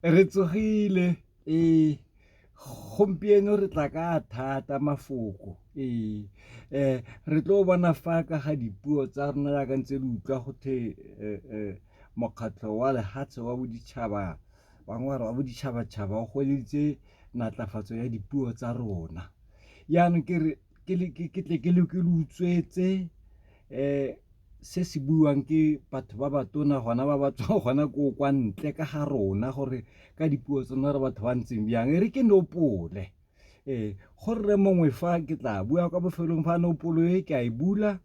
Re tsogile ee gompieno re tla ka thata mafoko ee um re tlo bona fa ka ga dipuo tsa rona jaaka ntse le utlwa go the eh, eh, mokgatlho wa lehatshe wa boditšhaba bangwe wa boditšhabatšhaba o goleditse natlafatso ya dipuo tsa rona yaanong ke re ke tle ke le utswetse um se se buiwang ke batho ba ba tona gona ba ba tswang gona ko kwa ntle ka ga rona gore ka dipuo tsone re batho ba ntseng bjang e re ke nopole ee go rre mongwe fa ke tla bua kwa bofelong fa nopolo e ke a e bula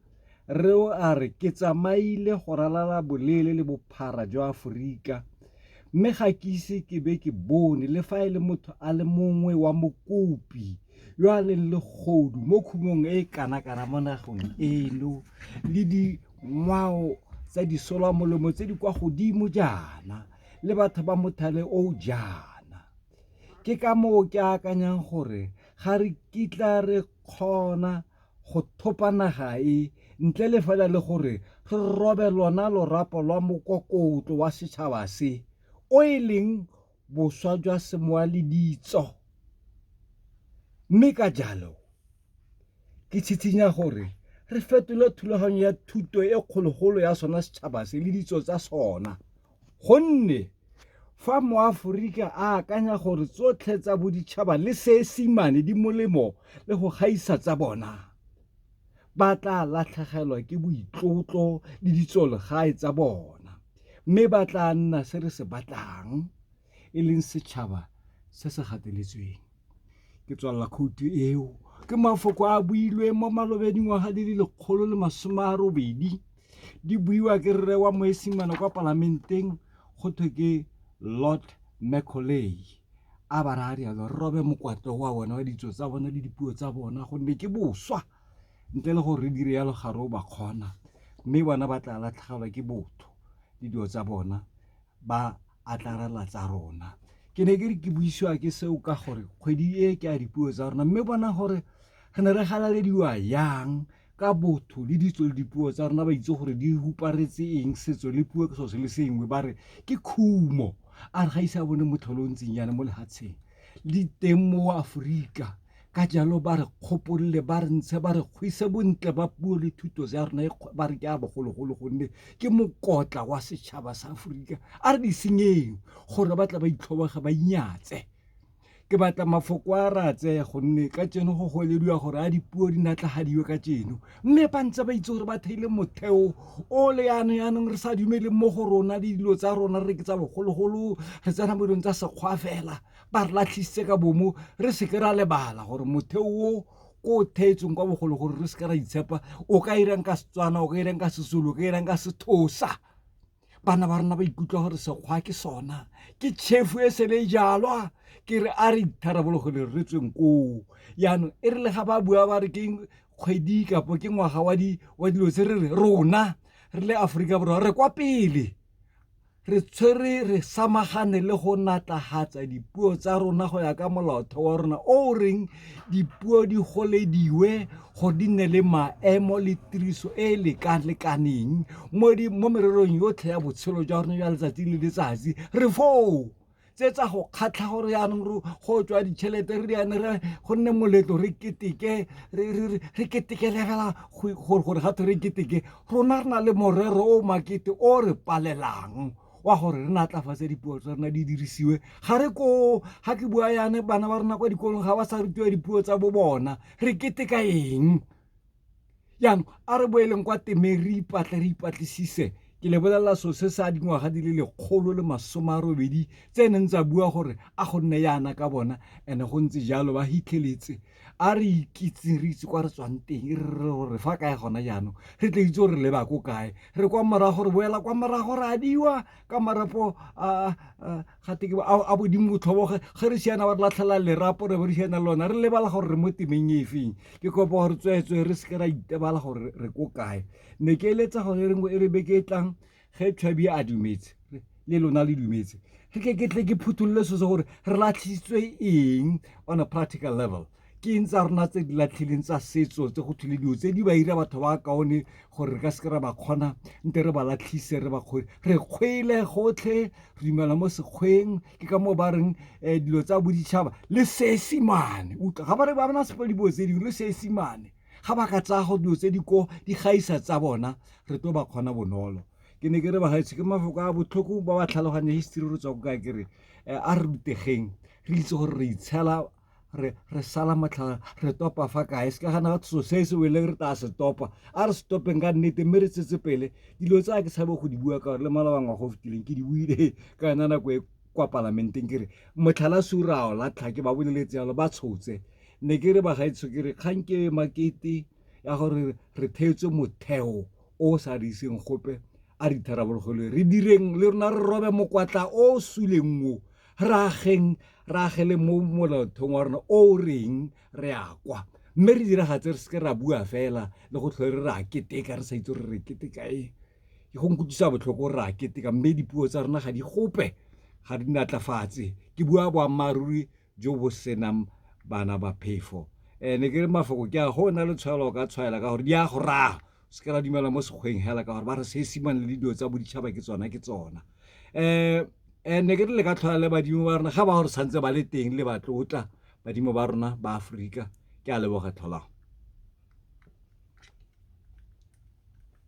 re o a re ke tsamaile go ralala boleele le bophara jwa aforika mme ga ke ise ke be ke bone le fa e le motho a le mongwe wa mokopi yo a leng le godu mo khumong e e kanakana mo nagong eno le dingwao tsa disolwa molemo tse di kwa godimo jaana le batho ba mothale o jaana ke ka moo ke akanyang gore ga re kitla re kgona go thopa naga e ntle le fela le gore re robe lona lorapo lwa mokokotlo wa setšhaba se o e leng boswa jwa semowa le ditso. Mme ka jalo, ke tshitshinya gore re fetole thulaganyo ya thuto e kgologolo ya sona setšhaba se le ditso tsa sona gonne fa moaforika a akanya gore tsotlhe tsa boditšhaba le seesimane di molemo le go gaisa tsa bona. ba tla latlhegelwa ke boitlotlo le ditsolegae tsa bona, mme ba tla nna se re se batlang e leng setšhaba se se gateletsweng. Ke tswalela khoutu eo ke mafoko a builweng mo malobeng dingwaga di le lekgolo le masome a robedi di buiwa ke rre wa moesimane kwa palamenteng go thwe ke Lord Macaulay. a ba raya rialo re robe mokwatlo wa bona wa ditso tsa bona le dipuo tsa bona gonne ke boswa ntle le gore re dire yalo ga re o ba kgona mme bona ba tla latlhegelwa ke botho le dilo tsa bona ba atlarela tsa rona ke ne ke re ke buisiwa ke seo ka gore kgwedi e ke a dipuo tsa rona mme bona gore re ne re galalediwa yang ka botho le ditso le dipuo tsa rona ba itse gore di huparetse eng setso le puo ke so se le sengwe ba re ke khumo a re ga ise a bone motlholo o ntseng yana mo lehatsheng le teng mo aforika ka jalo ba re kgopolole ba re ntshe ba re kgwise bontle ba puo le thuto ya rona e ba re ke a bogologolo gonne ke mokotla wa setšhaba sa aforika a re di senyeng gore ba tla ba itlhobege ba inyatse ke batla mafoko a ratse gonne ka tseno go goelediwa gore a dipuo di natlagadiwe ka tseno mme ba ntse ba itse gore ba theile motheo o le yana yanong re sa dumeleng mo go rona le dilo tsa rona re ke tsa bogologolo re tsena mo dilong tsa sekgwa fela ba re latlhisitse ka bomo re seke ra lebala gore motheo o ko o theetsweng kwa bogologolo re seke ra itshepa o ka irang ka setswana o ka irang ka sesolo o ka irang ka sethosa bana ba rona ba ikutlwa gore sekgwa ke sona ke chefu e sele e jalwa ke re a re itharabolo go le re tsweng koo yaanong e re le ga ba bua ba re ke kgwedi kapo ke ngwaga wa dilo tse re re rona re le aforika borwa re kwa pele re tshwere re samagane le go natlagatsa dipuo tsa rona go ya ka molaotheo wa rona o reng dipuo di golediwe go di nne le maemo le tiriso e e lekalekaneng mo mererong yotlhe ya botshelo jwa rona jwa letsatsi le letsatsi re foo tse tsa go kgatlha gore yaanong re go tswa ditšhelete re diane re go nne moletlo re keteke re keteke lebela gore ga re keteke rona re na le morero o makete o re palelang wa gore re natlafatse dipuo tsa rona di dirisiwe ga re ko ga ke bua yane bana ba rona kwa dikolong ga ba sa rutiwa dipuo tsa bo bona re keteka eng jaanong a re boeleng kwa temeng re ipatle re ipatlisise ke lebelela so se sa dingwaga di le lekgolo le masome a robedi tse neng tsa bua gore a go nne yana ka bona and-e go ntse jalo ba hitlheletse a re ikitseng re itse kwa re tswang teng e re gore fa kae gona jaanong re tle itse gore leba ko kae re kwa morago re boela kwa morago re adiwa ka marapo a ga te a bodimo botlhoboge ge re siana ba re latlhela lerapo re bo re siana lona re lebala gore re mo temeng e feng ke kopa gore tsweetswe re seke ra itebala gore re ko kae ne ke eletsa gore e rengwe e re beke e tlang ge tšhabi a dumetse le lona le dumetse re ke ke tle ke phutholole so se gore re latlhisitswe eng on a practical level ke eng tsa rona tse di latlhileng tsa setso tse go thule dilo tse di ba ira batho ba kaone gore re ka seke ra ba kgona nte re ba latlhise re ba kgwele re kgwele gotlhe re dumela mo sekgweng ke ka moo ba reng um dilo tsa boditšhaba le seesimane utlwa ga ba re ba bona sepe dibo tse dingwe le seesimane ga ba ka tsaya go dilo tse di ko di gaisa tsa bona re tlo ba kgona bonolo ke ne ke re bagaetsho ke mafoko a botlhoko ba ba tlhaloganye history re tswa ko ka kere um a re rutegeng re itse gore re itshela re re sala matlhara re topa fa kae se ka gana ga tso se se weleng re tla se topa a re stopeng ka nnete mme re tsetse pele dilo tsa ke tshabe go di bua ka gore le mala bangwa go fitileng ke di buile ka yona nako e kwa palamenteng ke re motlhala surao la tlhake ba boleletse yalo ba tshotse ne ke re ba gaetsho ke re kgang ke makete ya gore re theetswe motheo o sa re iseng gope a re itharabologelwe re direng le rona re robe mokwatla o suleng o Rraageng, re agele mo Molaotheong wa rona o o reng re a kwa, mme re diragatse re se ke ra bua fela le go tlhole re re a keteka re sa itse gore re keteka eng. Go nkutlwisa botlhoko gore re a keteka mme dipuo tsa rona ga di gope, ga di natlafatse, ke bua boammaaruri jo bo senang bana ba phefo. Ne ke re mafoko ke a, go na le tshwaelo o ka tshwaela ka gore di a go raya. se ka la dumela mo sekgweng hela ka gore ba re seesimane le dilo tsa boditšhaba ke tsona ke tsona um and ne ke re le ka tlhola le badimo ba rona ga ba gore tshwanetse ba le teng le batlotla badimo ba rona ba aforika ke a leboga tlholang